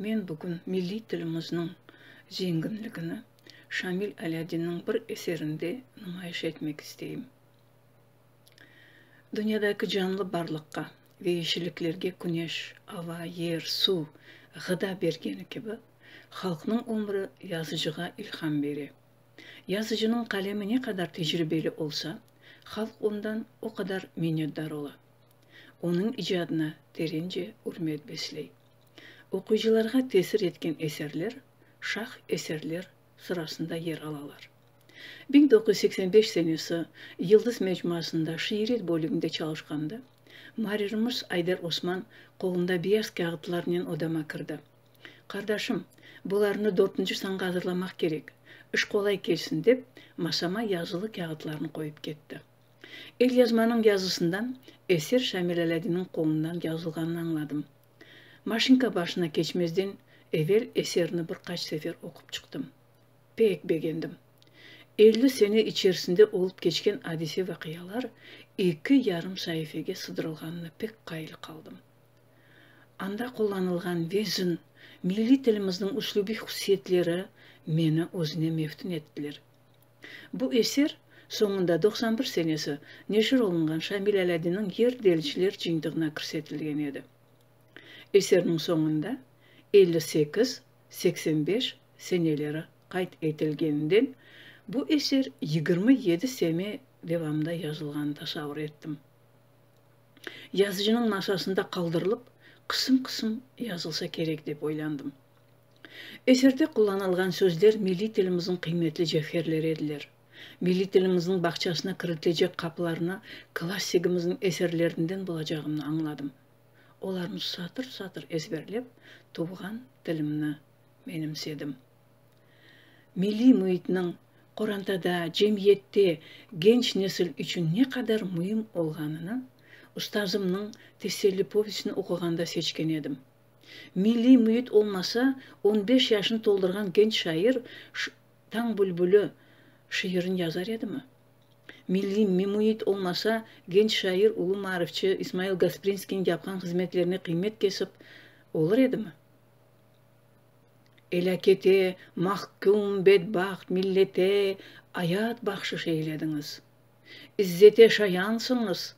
Men bugün milliy tilimizniñ zenginligini Şamil Alâdinniñ bir eserinde numayış etmek isteyim. Dünyadaki canlı barlıqqa ve yeşilliklerge küneş, ava, yer, suv, ğıda bergeni kibi, halqnıñ ömri yazıcığa ilham bere. Yazıcınıñ qalemi ne qadar tecribeli olsa, halq ondan o qadar minnetdar ola. onıñ icadına terence ürmet besley. Oquyıcılarğa tesir etken eserler şah eserler sırasında yer alalar. Biñ doquz yüz seksen beş senesi Yıldız mecmuasında şiiret bölüginde çalışqanda, muarririmiz Ayder Osman qolunda beyaz kâğıtlarnen odama kirdi. Qardaşım, bularnı dörtünci sanğa azırlamaq kerek, iş qolay kelsin, dep, masama yazılı kâğıtlarnı qoyıp ketti. Elyazmanıñ yazısından eser Şamil Alâdinniñ qolundan yazılğanını añladım. Maşinka başına keçmezden evel eserni bir qaç sefer oqup çıqtım. Pek begendim. Elli sene içerisinde olıp keçken adise-vaqialar eki yarım saifege sıdırılğanına pek qayıl qaldım. Anda qullanılğan vezn, milliy tilimizniñ üslübiy hususiyetleri meni özüne meftün ettiler. Bu eser soñunda doqsan bir senesi neşir olunğan Şamil Alâdinniñ Yer deliciler cıyıntığına kirsetilgen edi. Eserniñ soñunda elli sekiz, seksen beş seneleri qayd etilgeninden, bu eser yigirmi yedi sene devamında yazılğanını tasavur ettim. Yazıcınıñ masasında qaldırılıp, qısım-qısım yazılsa kerek dep oylandım. Eserde qullanılğan sözler milliy tilimizniñ qıymetli cevherleri ediler. Milliy tilimizniñ bağçasına kiritilecek qapılarnı klassigimizniñ eserlerinden bulacağımnı añladım. Olarnı satır-satır ezberlep, tuvğan tilimni menimsedim. Milliy müitniñ qorantada, cemiyette genç nesil içün ne qadar müim olğanını ustazımnıñ Teselli povestini oquğanda seçken edim. Milliy müit olmasa, on beş yaşını toldurğan genç şair Tañ bülbüli şiirini yazar edimi? Milliy müit olmasa, genç şair, ulu maarifçi İsmail Gasprinskiyniñ yapqan hızmetlerine qıymet kesip olur edimi? Elâkete mahküm bedbaht millete ayat bahşış eylediñiz. İzzete şayansıñız,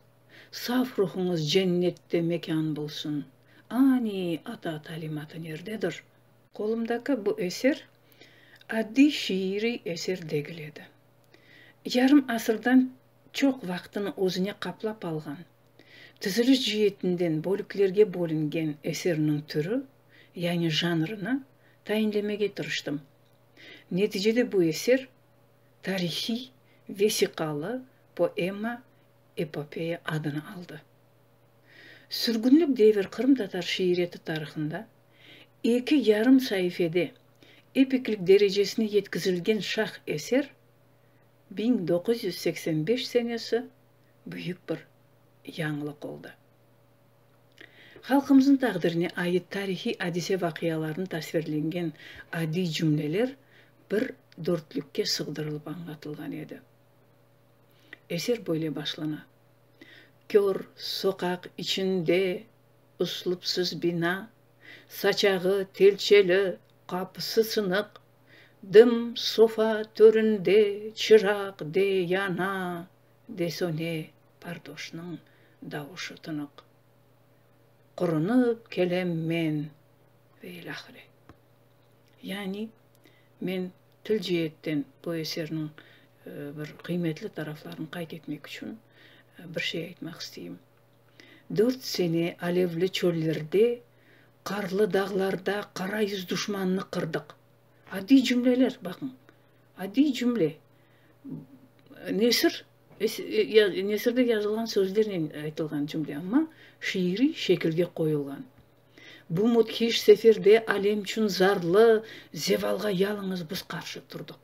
saf ruhuñız cennette mekân bulsun. Ani ata talimatı nerdedir? Qolumdaki bu eser addiy şiiriy eser degil edi. Yarım asırdan çoq vaqtını özüne qaplap alğan, tiziliş cietinden bölüklerge bölüngen eserniñ türü, yani janrını, tayinlemege tırıştım. Neticede bu eser tarihiy vesiqalı poema epopeya adını aldı. Sürgünlik devir qırımtatar şiiriyeti tarihında eki yarım saifede epiklik derecesine yetkizilgen şah eser biñ doquz yüz seksen beş senesi büyük bir yañılıq oldı. Halqımıznıñ taqdirine ait tarihiy adise-vaqialarnı tasvirlengen adiy cümleler bir dörtlükke sığdırılıp añlatılğan edi. Eser böyle başlana, Kör soqaq içinde uslupsız bina, Saçağı telçeli, qapısı sınıq, Dım sofa töründe çıraq de yana, de söne, Pardoşnıñ davuşı tınıq. Qurunıp kelem men ve ilâhre. Yani, men til ceetten bu eserniñ bir qıymetli taraflarını qayd etmek içün bir şey aytmaq isteyim. Dört sene alevli çöllerde, qarlı dağlarda qara yüz duşmannı qırdıq. Adiy cümleler, baqıñ, adiy cümle. Nesir Nesirde yazılğan sözlernen aytılğan cümle, amma şiiriy şekilge qoyulğan. Bu müthiş seferde alem içün zarlı zevalğa yalıñız biz qarşı turdıq.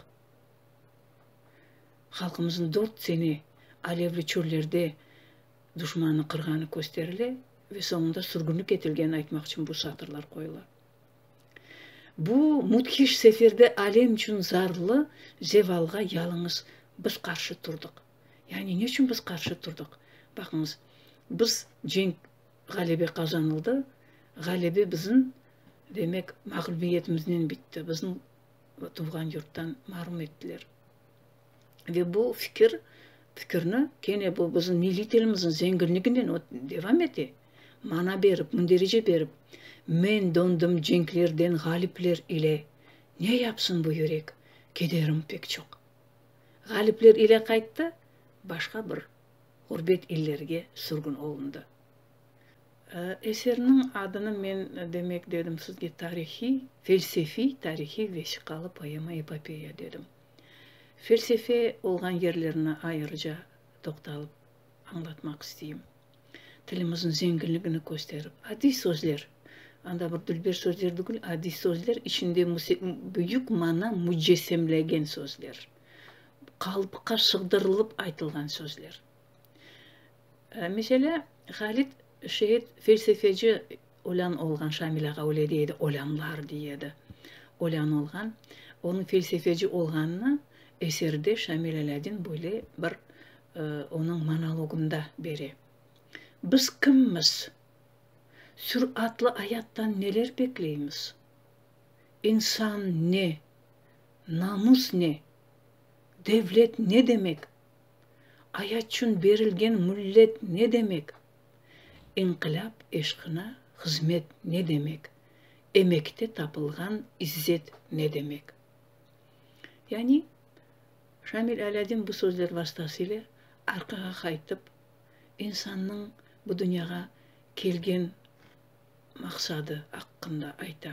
Halqımıznıñ dört sene alevli çöllerde duşmannı qırğanı kösterile ve soñunda sürgünlik etilgeni aytmaq içün bu satırlar qoyula. Bu müthiş seferde alem içün zarlı zevalğa yalıñız biz qarşı turdıq. Yani ne içün biz qarşı turdıq? Baqıñız, biz cenk, ğalebe qazanıldı, ğalebe bizim, demek, mağlubiyetimiznen bitti, bizni tuvğan yurttan marum ettiler. Ve bu fikir, fikirni kene bu bizim milliy tilimizniñ zenginliginden o devam ete, mana berip, münderece berip, Men dondım cenklerden ğalipler ile, ne yapsın bu yürek, kederim pek çoq. Ğalipler ile qayttı, başqa bir ğurbet illerge sürgün olundı. Eserniñ adını men, demek, dedim sizge, tarihiy, felsefiy tarihiy vesiqalı poema-epopeya, dedim. Felsefe olğan yerlerine ayırıca toqtalıp añlatmaq isteyim. Tilimizniñ zenginligini kösterip, adiy sözler, anda bir dülber sözler degil, adiy sözler, içinde büyük mana mücessemlegen sözler, qalıpqa sığdırılıp aytılğan sözler. Mesele, Halit şeit felsefeci olân olğan, Şamil ağa öyle dey edi, olânlar dey edi, olân olğan. Onıñ felsefeci olğanını eserde Şamil Alâdin böyle bir onıñ monologında bere, Biz kimmiz? Süratlı ayattan neler bekleymiz? İnsan ne? Namus ne? Devlet ne demek? Ayat çün berilgen müllet ne demek? İnqilâp eşqına hızmet ne demek? Emekte tapılğan izzet ne demek? Yani, Şamil Alâdin bu sözler vastasıyle arqağa qaytıp, insannıñ bu dünyağa kelgen maqsadı aqqında ayta.